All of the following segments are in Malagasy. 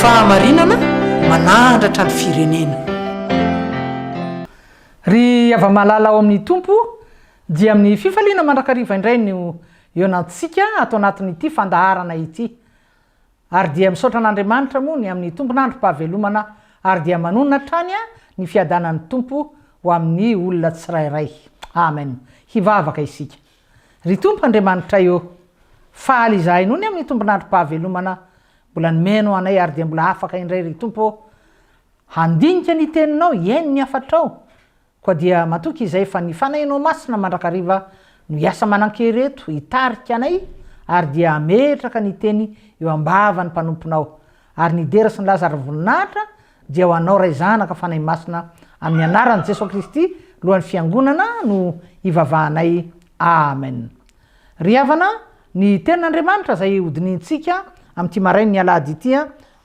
Fahamarinana manahandratra ny firenena. Ry hava-malala ao amin'ny Tompo, dia amin'ny fifaliana mandrakariva indray no ionantsika ato anatin'ity fandaharana ity. Ary dia misaotra an'Andriamanitra moa ny amin'ny tompon'androm-pahavelomana ary dia manonona hatrany ny fiadanan'ny Tompo ho amin'ny olona tsirairay. Amen. Hivavaka isika. Ry Tompo Andriamanitray ô! Faly izahay noho ny amin'ny tombon'androm-pahavelomana mbola nomenao anay ary dia mbola afaka indray ry Tompo ô! handinika ny Teninao, hihaino ny hafatrao, koa dia matoky izay fa ny Fanahinao Masina mandrakariva no hiasa manan-kery eto hitarika anay ary dia hametraka ny Teny eo am-bavan'ny mpanomponao ary ny dera sy ny laza ary voninahitra Dia ho anao Ray Zanaka Fanahy Masina amin'ny anaran'i Jesoa Kristy lohan'ny Fiangonana no hivavahanay Amen. Ry havana ny tenin'Andriamanitra izay hodinihintsika amin'ity marain'ny alahady ity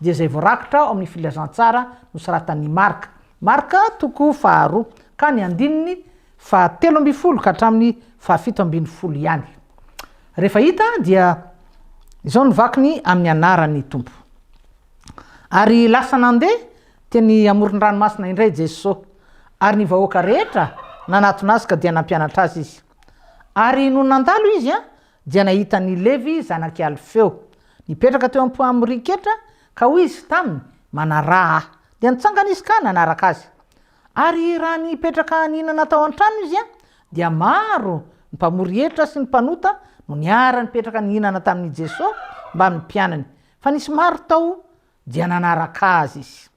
dia izay voarakitra ao amin'ny filazantsara nosoratan'i Marka, Marka toko faharoa ka ny andininy fahatelo ambin'ny folo ka hatramin'ny fahafito ambin'ny folo ihany. Rehefa hita dia izao ny vakiny amin'ny anaran'ny Tompo. Ary lasa nandeha teny amoron-dranomasina indray Jesosy, ary ny vahoaka rehetra nanatona azy ka dia nampianatra azy izy. Ary nony nandalo izy dia nahita an' i Levy zanak' i Alfeo, nipetraka teo am-poamoriketra, ka hoy izy taminy, Manaraha ahy. Dia nitsangana izy ka nanaraka azy. Ary raha nipetraka nihinana tao an-trano izy, dia maro ny mpamory hetra sy ny mpanota no niara-nipetraka nihinana tamin' i Jesosy mbamin' ny mpianany, Fa nisy maro tao dia nanaraka azy izy.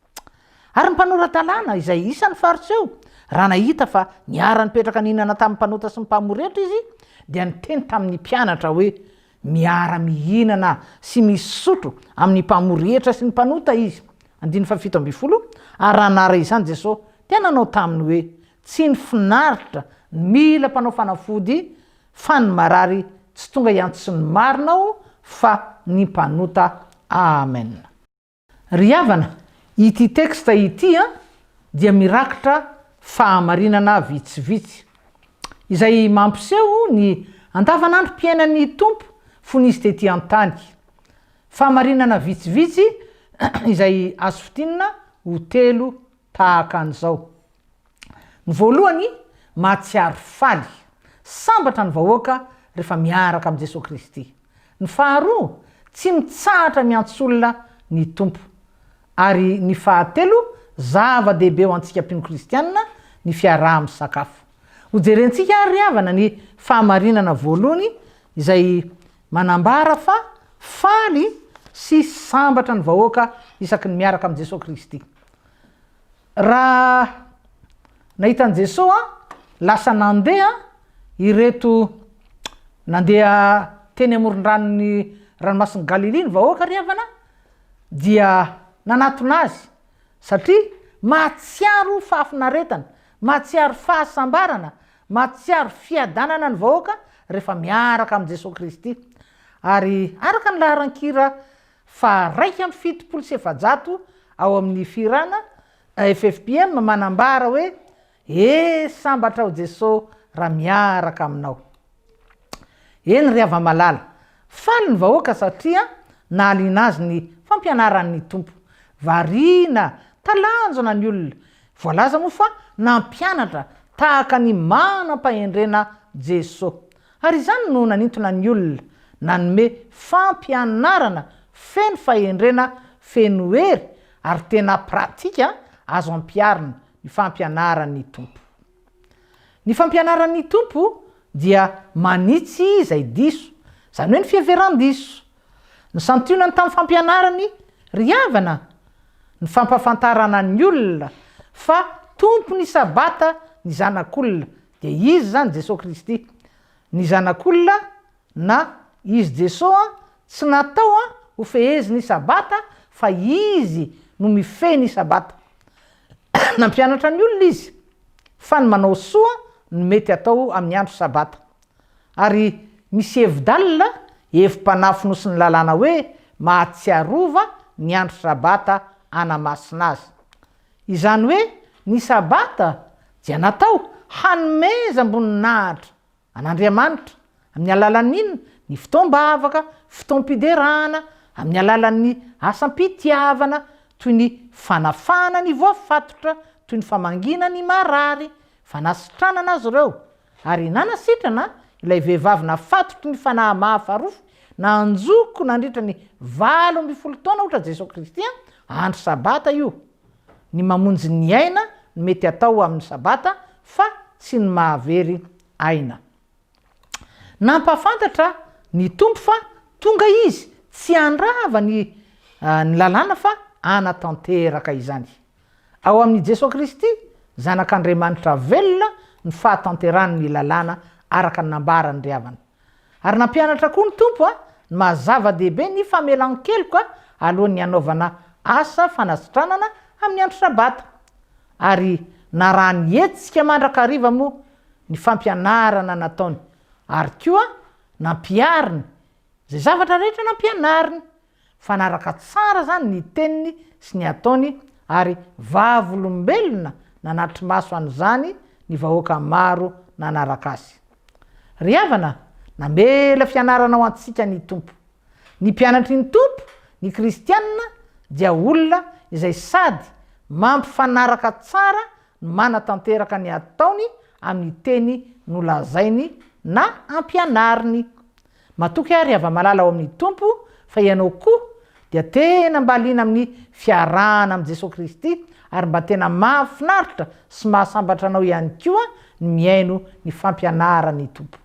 Ary ny mpanora-dalàna, izay isan'ny Fariseo, raha nahita fa niara-nipetraka nihinana tamin'ny mpanota sy ny mpamoretra izy, dia niteny tamin'ny mpianatra hoe, Miara-mihinana sy misotro amin'ny mpamoretra sy ny mpanota izy. Andininy fahafito ambin'ny folo, Ary raha nahare izany Jesosy, dia nanao taminy hoe, Tsy ny finaritra no mila mpanao fanafody, Fa ny marary tsy tonga hiantson'ny marina aho fa ny mpanota Amen. Ry havana, ity texte ity an dia mirakitra fahamarinana vitsivitsy. Izay mampiseho ny andavanandrom-piainan'ny Tompo fony Izy tety an-tany. Fahamarinana vitsivitsy izay azo fintinina ho telo tahaka an'izao. Ny voalohany, mahatsiaro faly, sambatra ny vahoaka rehefa miaraka amin'i Jesoa Kristy. Ny faharoa, tsy mitsahatra miantso olona ny Tompo. Ary ny fahatelo, zava-dehibe ho antsika mpino kristianina ny fiaraha-misakafo. Hojerentsika àry ry havana ny fahamarinana voalohany izay manambara fa faly sy sambatra ny vahoaka isaky ny miaraka amin'i Jesoa Kristy. Raha nahita an'i Jesoa an, lasa nandeha ireto nandeha teny amoron-dranon'ny ranomasin'i Galilia ny vahoaka ry havana dia nanatona Azy satria mahatsiaro fahafinaretana, mahatsiaro fahasambarana, mahatsiaro fiadanana ny vahoaka rehefa miaraka amin'i Jesoa Kristy. Ary araka ny laharan-kira faha iraika amby fitopolo sy efajato ao amin'ny Fihirana, AFFPM manambara hoe, E sambatra aho Jeso raha miaraka aminao. Eny ry hava-malala, faly ny vahoaka satria nahaliana azy ny fampianaran'ny Tompo. Variana, talanjona ny olona. Voalaza moa fa nampianatra tahaka ny manam-pahendrena Jeso. Ary izany no nanintona ny olona, nanome fampianarana feno fahendrena, feno hery ary tena pratika azo ampiharina ny fampianaran'ny Tompo. Ny fampianaran'ny Tompo dia manitsy izay diso, izany hoe ny fiheveran-diso. Ny santionany tamin'ny fampianarany ry havana, ny fampahafantarana ny olona fa tompon'ny Sabata ny Zanak'olona Dia izy izany Jesoa Kristy. Ny Zanak'olona na Izy Jesoa tsy natao ho fehezin' i Sabata fa Izy no mifehy ny Sabata. Nampianatra ny olona Izy fa ny manao soa no mety atao amin'ny andro Sabata. Ary misy hevi-dalina hevi-panafonosin'ny lalàna hoe mahatsiarova ny andro Sabata anamasina azy. Izany hoe ny Sabata dia natao hanomezam-boninahitra an'Andriamanitra amin'ny alalan'inona? Ny fotoam-bavaka, fotoam-piderana, amin'ny alalan'ny asam-pitiavana toy ny fanafahana ny voafatotra, toy ny famangiana ny marary, fanasitranana azy ireo, Ary nanasitrana ilay vehivavy nafatotry ny fanahy mahafarofy nanjoko nandritra ny valo ambin'ny folo taona ohatra Jesoa Kristy an, andro sabata io, ny mamonjy ny aina no mety atao amin'ny sabata fa tsy ny mahavery aina. Nampahafantatra ny Tompo fa tonga Izy tsy handrava ny ny lalàna fa hanatanteraka izany. Ao amin' i Jesoa Kristy, Zanak' Andriamanitra velona, ny fahatanterahany ny lalàna araka ny nambaran' ny ry havana. Ary nampianatra koa ny Tompo ny maha-zava-dehibe ny famelan-keloka alohan' ny hanaovana asa fanasitranana amin' ny andro Sabata. Ary narahany hetsika mandrakariva moa ny fampianarana nataony, ary koa nampihariny izay zavatra rehetra nampianariny Mifanaraka tsara izany ny teniny sy ny ataony ary vavolombelona nanatri-maso an'izany ny vahoaka maro nanaraka azy. Ry havana, namela fianarana ho antsika ny Tompo. Ny mpianatry ny Tompo, ny kristiana, dia olona izay sady mampifanaraka tsara no manatanteraka ny ataony amin'ny teny nolazainy na ampianariny. Matoky ary hava-malala ao amin'ny Tompo fa ianao koa dia tena mba liana amin'ny fiarahana amin'i Jesoa Kristy ary mba tena mahafinaritra sy mahasambatra anao ihany koa ny mihaino ny fampianaran'ny Tompo.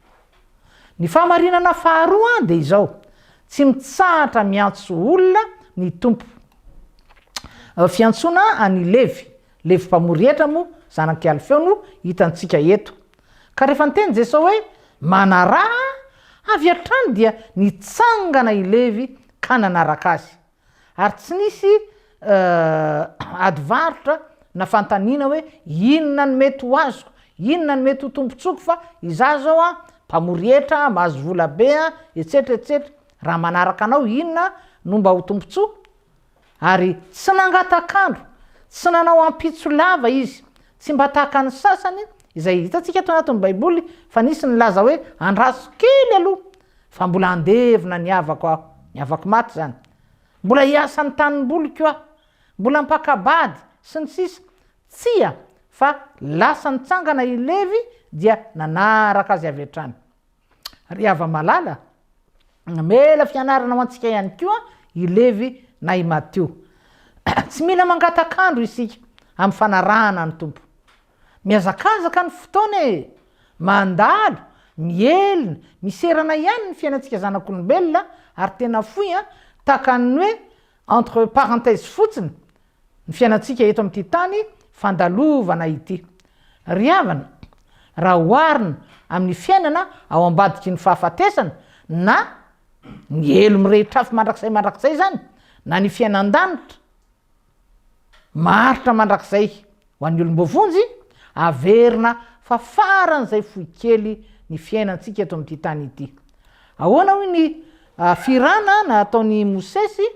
Ny fahamarinana faharoa dia izao, tsy mitsahatra miantso olona ny Tompo. Fiantsoana an'i Levy, Levy mpamory hetra moa zanak'i Alfeo no hitantsika eto. Ka rehefa niteny Jesoa hoe, Manaraha Ahy, avy hatrany dia nitsangana i Levy ka nanaraka Azy. Ary tsy nisy ady varotra na fanontaniana hoe, Inona no mety ho azoko? Inona no mety ho tombontsoako fa izaho izao an, mpamory hetra, mahazo vola be an, etsetra etsetra. Raha manaraka Anao, inona no mba ho tombontsoa? Ary tsy nangatak'andro, tsy nanao ampitso lava izy. Tsy mba tahaka ny sasany, izay hitantsika eto anatin'ny Baiboly fa nisy nilaza hoe, Andraso kely aloha, fa mbola handevina ny havako aho. Ny havako maty izany. Mbola hiasa ny tanimboliko aho. Mbola mpaka-bady, sy ny sisa Tsia, fa lasa nitsangana i Levy dia nanaraka azy avy hatrany. Ry hava-malala, namela fianarana ho antsika ihany koa i Levy na i Matio. Tsy mila mangatak'andro isika amin'ny fanarahana ny Tompo. Mihazakazaka ny fotoana e! Mandalo, mihelina, miserana ihany ny fiainantsika zanak'olombelona ary tena fohy an, takan'ny hoe entre parenthèses fotsiny Ny fiainantsika eto amin'ity tany fandalovana ity. Ry havana, raha oharina amin'ny fiainana ao ambadiky ny fahafatesana, na ny helo mirehitr'afo mandrakizay mandrakizay izany, na ny fiainan-danitra maharitra mandrakizay Ho an'ny olom-boavonjy, averina fa faran'izay fohy kely ny fiainantsika eto amin'ity tany ity. Ahoana hoy ny firana nataon'i Mosesy?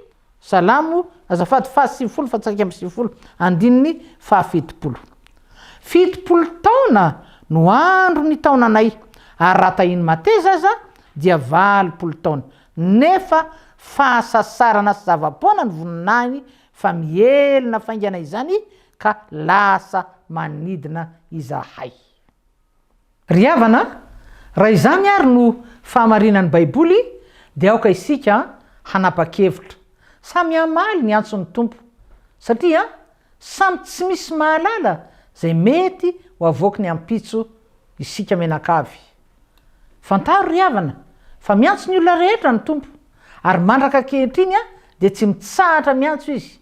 Salamo azafady fahasivifolo fa tsaika amby sivifolo andininy fahafitopolo. Fitopolo taona no andro ny taonanay, ary raha tahian'ny mateza aza dia valopolo taona, nefa fahasasarana sy zava-poana ny voninahiny Fa mihelina faingana izany ka lasa manidina izahay. Ry havana a, raha izany àry no fahamarinan'ny Baiboly, dia aoka isika hanapa-kevitra. Samy hamaly ny antson'ny Tompo, satria samy tsy misy mahalala izay mety ho avoaky ny ampitso isika mianakavy. Fantaro ry havana, fa miantso ny olona rehetra ny Tompo, ary mandraka ankehitriny dia tsy mitsahatra miantso Izy,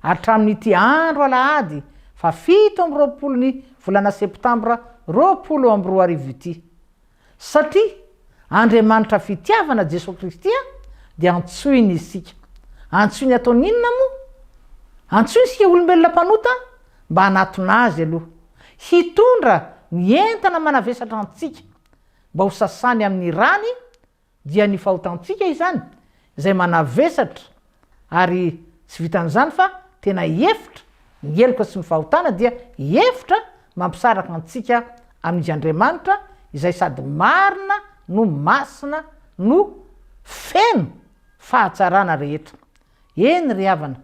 hatramin'ity andro alahady faha fito amby roapolon'ny volana septambra roapolo amby roa arivo ity. Satria Andriamanitra fitiavana Jesoa Kristy dia antsoiny isika. Antsoiny ataony inona moa? Antsoiny isika olombelona mpanota mba hanatona Azy aloha. hitondra ny entana manavesatra antsika mba ho sasany amin'ny rany dia ny fahotantsika izany izay manavesatra ary tsy vitan'izany fa tena efitra ny heloka sy ny fahotana dia efitra mampisaraka antsika amin'i Andriamanitra izay sady marina no masina no feno fahatsarana rehetra Eny ry havana,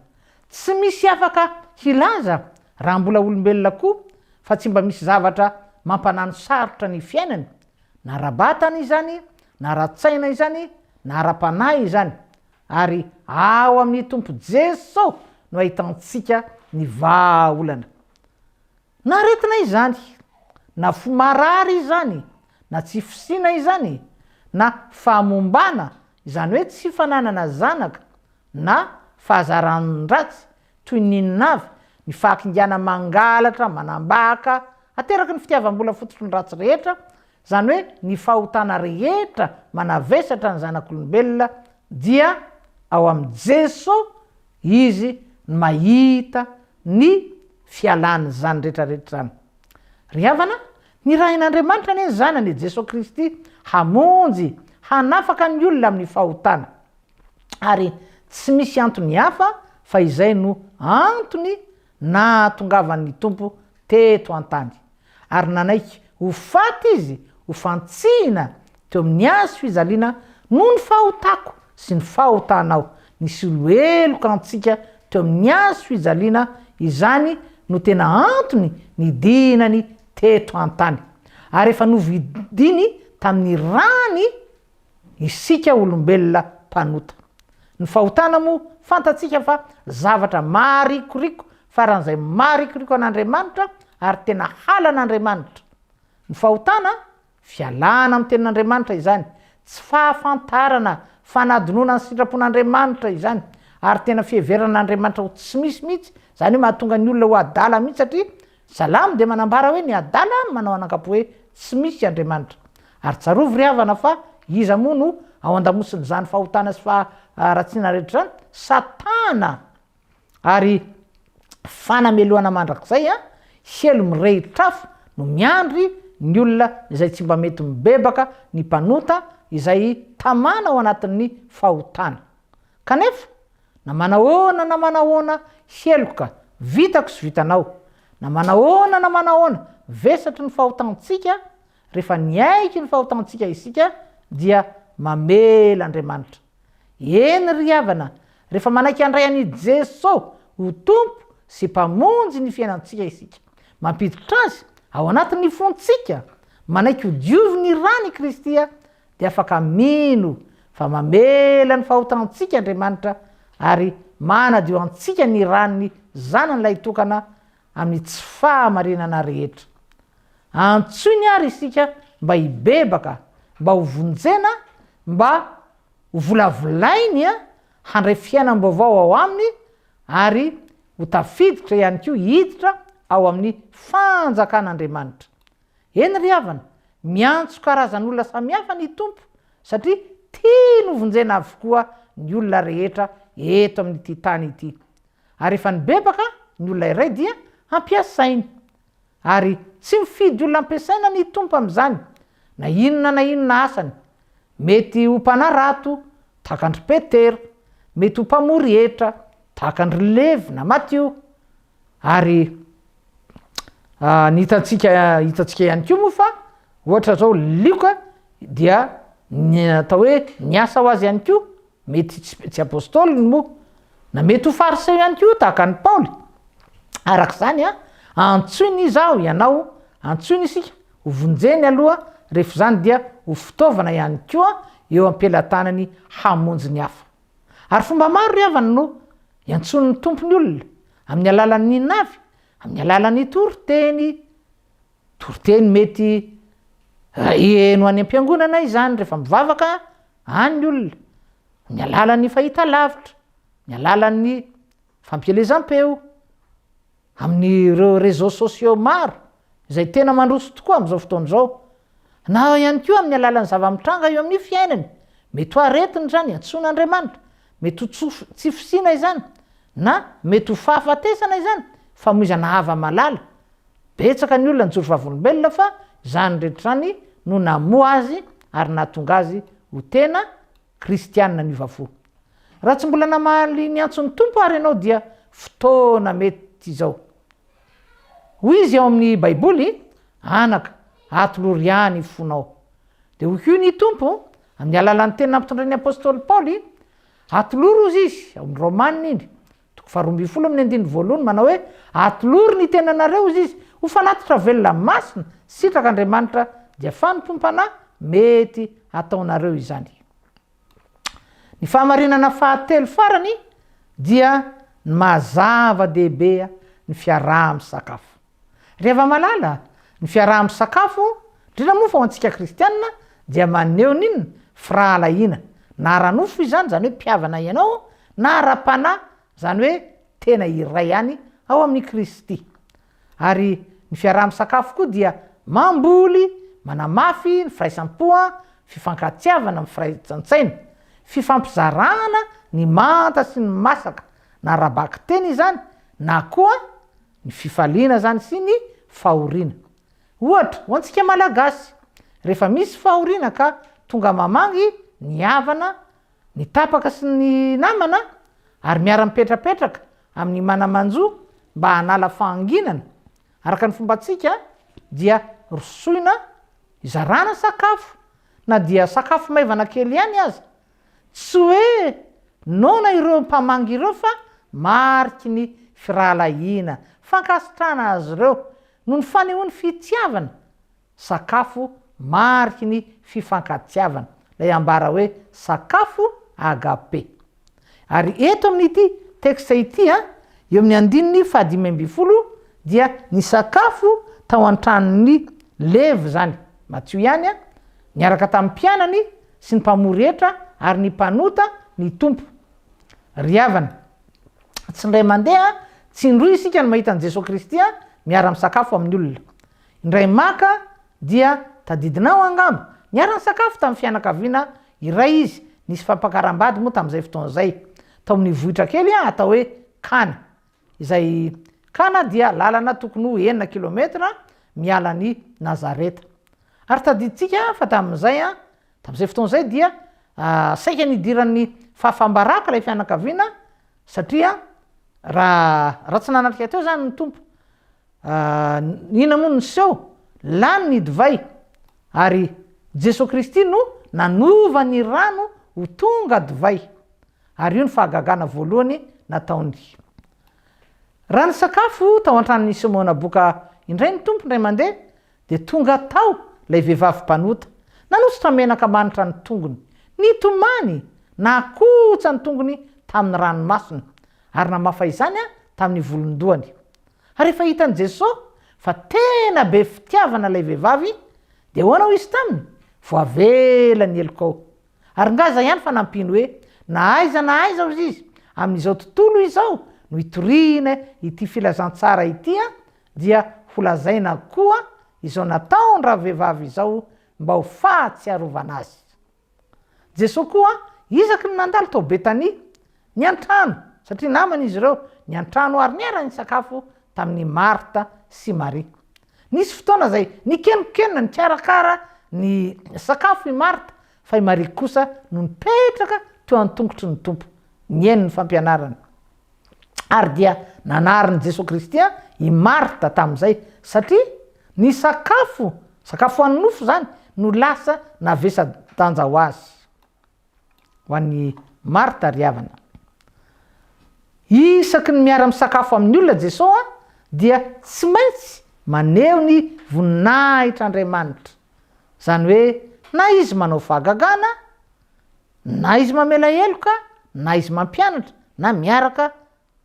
tsy misy afaka hilaza raha mbola olombelona koa fa tsy mba misy zavatra mampanano sarotra ny fiainany, na ara-batana izany, na ara-tsaina izany, na ara-panahy izany. Ary ao amin'i Tompo Jeso no ahitantsika ny vahaolana. Na aretina izany, na fo marary izany, na tsy fisiana izany, na fahamombana, izany hoe tsy fananana zanaka, na fahazaran-dratsy, toy ny inona avy, ny fahakingana mangalatra, manambaka, ateraky ny fitiavam-bola fototry ny ratsy rehetra, izany hoe ny fahotana rehetra manavesatra ny zanak'olombelona, dia ao amin'i Jeso Izy no mahita ny fialan'izany rehetrarehetra izany. Ry havana, nirahin'Andriamanitra anie ny Zanany i Jesoa Kristy hamonjy, hanafaka ny olona amin'ny fahotana. Ary tsy misy antony hafa fa izay no antony Nahatongavany ny Tompo teto an-tany, ary nanaiky ho faty Izy ho fantsihina teo amin'ny hazo fijaliana noho ny fahotako sy ny fahotanao. Nisolo heloka antsika teo amin'ny hazo fijaliana, izany no tena antony nidinany teto an-tany. Ary efa novidiny tamin'ny rany Isika olombelona mpanota. Ny fahotana moa fantatsika fa zavatra maharikoriko faran'izay maharikoriko an'Andriamanitra ary tena halan'Andriamanitra. Ny fahotana, fialana amin'ny tenin'Andriamanitra izany, tsy fahafantarana, fanadinoana ny sitrapon'Andriamanitra izany ary tena fiheverana an'Andriamanitra ho tsy misy mihitsy, izany hoe mahatonga ny olona ho adala mihitsy satria Salamo dia manambara hoe ny adala no manao an'ankapo hoe tsy misy Andriamanitra. Ary tsarovy ry havana fa iza moa no ao andamosin'izany fahotana sy faharatsiana rehetra izany? Satana! Ary fanamelohana mandrakizay an! Helo mirehitr'afo no miandry ny olona izay tsy mba mety mibebaka ny mpanota izay tamana ao anatin'ny fahotana. Kanefa, na manahoana na manahoana heloka vitako sy vitanao, na manahoana na manahoana vesatry ny fahotantsika, rehefa niaiky ny fahotantsika isika, dia mamela Andriamanitra. Eny ry havana, rehefa manaiky handray an' i Jeso ho Tompo sy Mpamonjy ny fiainantsika isika, mampiditra Azy ao anatin' ny fontsika, manaiky ho diovin' ny ran' i Kristy dia afaka mino fa mamela ny fahotantsika Andriamanitra ary manadio antsika ny ran'ny Zanany lahitokana amin'ny tsy fahamarinana rehetra. Antsoiny àry isika mba hibebaka, mba hovonjena, mba hovolavolainy handray fiainam-baovao ao Aminy ary ho tafiditra ihany koa hiditra ao amin'ny fanjakan'Andriamanitra. Eny ry havana, miantso karazan'olona samihafa ny Tompo satria tiany hovonjena avokoa ny olona rehetra eto amin'ity tany ity. Ary efa nibebaka ny olona iray dia ampiasainy. Ary tsy mifidy olona ampiasaina ny Tompo amin'izany, na inona na inona asany. Mety ho mpanarato, tahaka an-dry Petera, mety ho mpamory hetra, tahaka an-dry Levy na Matio, Ary ny hitantsika hitantsika ihany koa moa fa ohatra zao lioka dia ny atao hoe ny asa ho azy ihany koa mety tsy apôstôly ny moa na mety ho fariseo ihany koa tahaka an'i Paoly araka izany a antsoiny izy aho ianao antsoiny isika ho vonjeny aloha rehefa izany dia ho fitaovana ihany koa eo am-pelatanany hamonjy ny hafa Ary fomba maro ry havana no iantsoan'ny Tompo ny olona, amin'ny alalan'ny navy, amin'ny alalan'ny toriteny, toriteny mety heno any am-piangonana izany rehefa mivavaka any ny olona, amin'ny alalan'ny fahitalavitra, amin'ny alalan'ny fampielezam-peo, amin'ireo réseaux sociaux maro izay tena mandroso tokoa amin'izao fotoana izao, na ihany koa amin'ny alalan'ny zava-mitranga eo amin'ny fiainany, mety ho aretina izany antsoina Andriamanitra, mety ho tsy fisiana izany, na mety ho fahafatesana izany, famoizana hava-malala. Betsaka ny olona nijoro vavolombelona fa izany rehetra izany no namoha azy ary nahatonga azy ho tena Kristiana miova fo. Raha tsy mbola namaly ny antson'ny Tompo àry ianao dia fotoana mety izao. Hoy Izy ao amin'ny Baiboly, Anaka, atolory Ahy ny fonao. Dia hoy koa ny Tompo, amin'ny alalan'ny teny nampitondrain'ny apostoly Paoly, Atolory hozy izy, ao amin'ny Romana iny, Toko faharoa ambin'ny folo amin'ny andininy voalohany manao hoe, Atolory ny tenanareo, hoy Izy, ho fanatitra velona masina, sitraka Andriamanitra, dia fanompoam-panahy mety hataonareo izany. Ny fahamarinana fahatelo farany dia ny maha-zava-dehibe ny fiaraha-misakafo. Ravamalala, Ny fiaraha-misakafo, indrindra moa fa ho antsika kristianina, dia maneho ny inona? Firahalahiana. Na ara-nofo izany, izany hoe mpihavana ianao, na ara-panahy, izany hoe tena iray ihany ao amin'i Kristy. Ary ny fiaraha-misakafo koa dia mamboly, manamafy ny firaisam-po, fifankatiavana, mifraisan-tsaina. Fifampizarana ny manta sy ny masaka, na ara-bakiteny izany, na koa. Ny fifaliana izany sy ny fahoriana. Ohatra, ho antsika Malagasy, rehefa misy fahoriana ka tonga mamangy ny havana, ny tapaka sy ny namana ary miara-mipetrapetraka amin'ny mana-manjo mba hanala fahanginana, araka ny fombantsika dia rosoina hizarana sakafo na dia sakafo maivana kely ihany aza, Tsy hoe noana ireo mpamangy ireo fa mariky ny firahalahiana, fankasitrahana azy ireo noho ny fanehoany fitiavana, sakafo mariky ny fifankatiavana, ilay ambara hoe sakafo agape. Ary eto amin'ity texte ity, eo amin'ny andininy fahadimy ambin'ny folo, dia ny sakafo tao an-tranon'ny Levy izany, Matio ihany, niaraka tamin'ny mpianany sy ny mpamory hetra ary ny mpanota ny Tompo. Ry havana, tsy indray mandeha, tsy indroa isika no mahita an'i Jesoa Kristy miara-misakafo amin'ny olona. Indray maka dia tadidinao angamba, niara-nisakafo tamin'ny fianakaviana iray Izy, nisy fampakaram-bady moa tamin'izay fotoana izay, tao amin'ny vohitra kely atao hoe Kana. Izay Kana dia lalana tokony ho enina kilometatra miala an'i Nazareta. Ary tadidintsika fa tamin'izay, tamin'izay fotoana izay dia saika nidiran'ny fahafam-baraka ilay fianakaviana satria raha raha tsy nanatrika teo izany ny Tompo, inona moa no niseho? Lany ny divay ary Jesoa Kristy no nanova ny rano ho tonga divay. Ary io ny fahagagana voalohany nataony. Raha nisakafo tao an-tranon'i Simona Boka indray ny Tompo indray mandeha, dia tonga tao ilay vehivavy mpanota. Nanosotra menaka manitra ny tongony, nitomany, nakotsa ny tongony tamin'ny ranomasony, ary namafa izany tamin'ny volon-dohany. Ary rehefa hitan'i Jesosy fa tena be fitiavana ilay vehivavy, dia ahoana hoy Izy taminy? Voavela ny helokao. Ary nga zay ihany fanampiny hoe na aiza na aiza ozy izy amin'izao tontolo izao no hitoriana ity filazantsara ity an, dia ho lazaina koa izao nataon-dravehivavy izao mba ho fahatsiarovana azy. Jesoa koa isaky ny nandalo tao Betania, niantrano, satria namana izy ireo, niantrano ary niara-nisakafo tamin'i Marta sy Maria. Nisy fotoana izay nikenokenona nikarakara ny sakafo i Marta, fa i Maria kosa no nipetraka teo an-tongotry ny Tompo, nihaino ny fampianarany. Ary dia nanarin'i Jesoa Kristy i Marta tamin'izay, satria ny sakafo, sakafo an'ny nofo izany, no lasa navesadanja ho azy. Ho an'i Marta ry havana. Isaky ny miara-misakafo amin'ny olona Jesoa dia tsy maintsy maneho ny voninahitr'Andriamanitra. Izany hoe na izy manao fahagagana, na izy mamela heloka, na izy mampianatra, na miaraka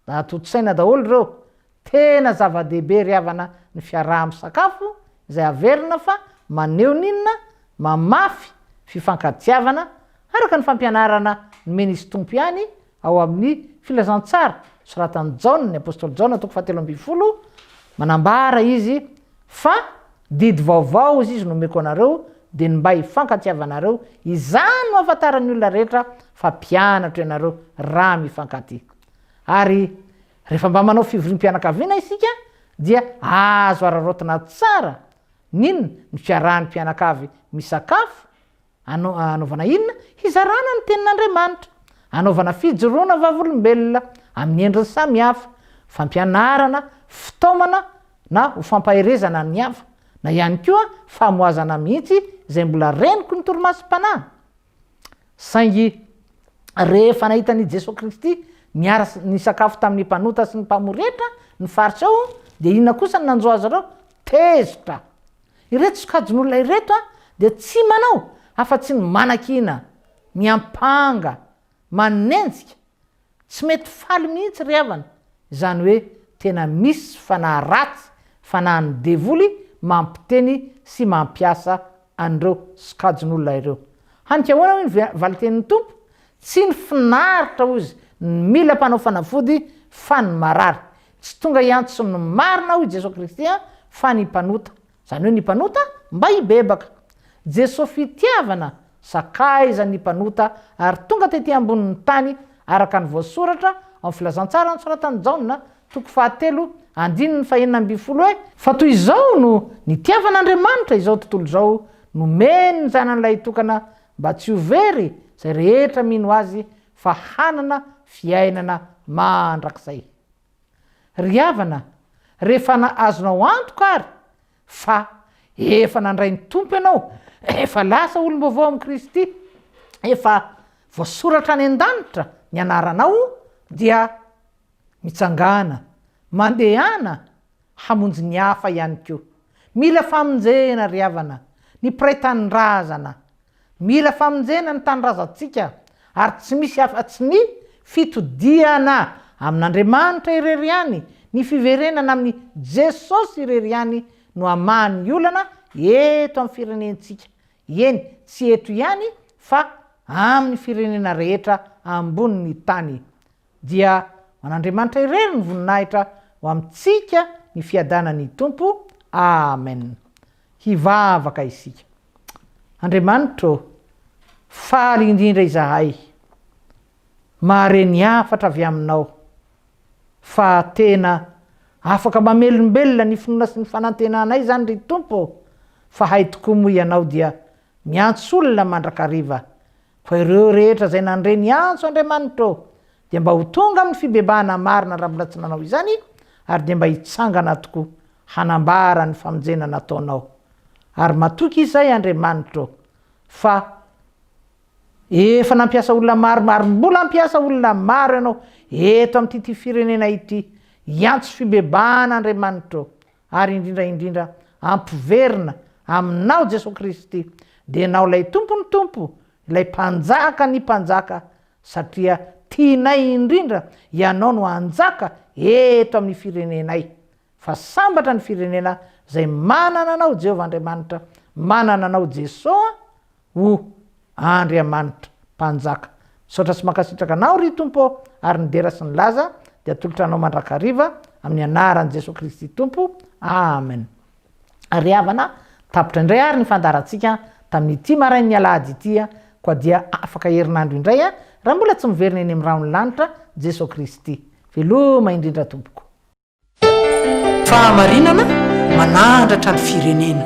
Mba tontosaina daholo ireo. Tena zava-dehibe ry havana ny fiaraha-misakafo izay averina fa maneho ny inona? Mamafy fifankatiavana araka ny fampianarana nomen' Izy Tompo ihany ao amin' ny Filazantsara, soratan' i Jaona, ny apostoly Jaona, toko fahatelo ambin'ny folo, manambara izy Fa didy vaovao hoy izy nomeko anareo dia ny mba hifankatiavanareo, izany no hahafantaran'ny olona rehetra fa mpianatro ianareo raha mifankatia. Ary rehefa mba manao fivoriam-pianakaviana isika dia azo araraotina tsara ny inona? Ny fiarahan'ny mpianakavy misakafo, Anao, Hanaovana inona? Hizarana ny Tenin'Andriamanitra. Hanaovana fijoroana vavolombelona amin'ny endriny samy hafa, fampianarana, fitaomana na ho fampaherezana ny hafa, na ihany koa famohazana mihitsy izay mbola reniko ny torimasom-panahy. Saingy rehefa nahita an'i Jesoa Kristy niara nisakafo tamin'ny mpanota sy ny mpamory hetra ny faritra ao, dia inona kosa no nanjo azy ireo? Tezitra! Ireto sokajin'olona ireto dia tsy manao afa-tsy ny manakiana, miampanga, manenjika, tsy mety faly mihitsy ry havana, izany hoe tena misy fanahy ratsy, fanahin'ny devoly mampiteny sy mampiasa an'ireo sokajin'olona ireo. Hany ka ahoana hoy ny valin-tenin'ny Tompo? Tsy ny finaritra hozy no mila mpanao fanafody fa ny marary. Tsy tonga hiantso ny marina aho i Jesoa Kristy an, fa ny mpanota. Izany hoe ny mpanota mba hibebaka. Jesoa fitiavana sakaiza ny mpanota ary tonga tety ambonin'ny tany araka ny voasoratra ao amin'ny filazantsara nosoratan'i Jaona, toko fahatelo, andininy fahenina ambin'ny folo hoe, Fa toy izao no nitiavan'Andriamanitra izao tontolo izao, nomeny ny Zanany Lahitokana mba tsy ho very izay rehetra mino Azy fa hanana fiainana mandrakizay. Ry havana, rehefa azonao antoka àry fa efa nandray ny Tompo ianao, efa lasa olom-baovao amin'i Kristy, efa voasoratra any an-danitra ny anaranao, dia mitsangàna, mandehana hamonjy ny hafa ihany koa. Mila famonjena ry havana ny mpiray tanindrazana. Mila famonjena ny tanindrazantsika ary tsy misy afa tsy ny fitodihana amin'Andriamanitra irery ihany, ny fiverenana amin'i Jesosy irery ihany no hamaha ny olana eto amin'ny firenentsika, eny tsy eto ihany fa amin'ny firenena rehetra ambonin'ny tany. Dia ho an'Andriamanitra irery ny voninahitra ho amintsika ny fiadanan'ny Tompo. Amen. Hivavaka isika. Andriamanitra ô, faly indrindra izahay mahare ny hafatra avy aminao fa tena afaka mamelombelona ny finoana sy ny fanantenanay izany ry Tompo ô, fa hay tokoa moa ianao dia miantso olona mandrakariva Fa ireo rehetra izay nandre ny antso Andriamanitra dia mba ho tonga amin'ny fibebahana marina raha mbola tsy nanao izany ary dia mba hitsangana tokoa hanambara ny famonjena nataonao. Ary matoky izay Andriamanitra fa efa nampiasa olona maro ary mbola hampiasa olona maro ianao eto amin'ity firenena ity hiantso fibebahana Andriamanitra ary indrindra indrindra ampiverina Aminao Jesoa Kristy, dia Ianao ilay Tompon'ny Tompo, ilay Mpanjaka ny Mpanjaka, satria tianay indrindra Ianao no hanjaka eto amin'ny firenenay, fa sambatra ny firenena izay manana anao Jehovah Andriamanitra, manana anao Jesoa, O! Andriamanitra, Mpanjaka, misaotra sy mankasitraka Anao, ry Tompo ô, ary ny dera sy ny laza dia atolotra Anao mandrakariva, amin'ny anaran'i Jesoa Kristy Tompo. Amen. Ry havana, tapitra indray àry ny fandaharantsika tamin'ity marain'ny alahady ity, koa dia afaka herinandro indray, raha mbola tsy miverina eny amin'ny rahon'ny lanitra Jesoa Kristy. Veloma indrindra Tompoko. Fahamarinana manandratra ny firenena.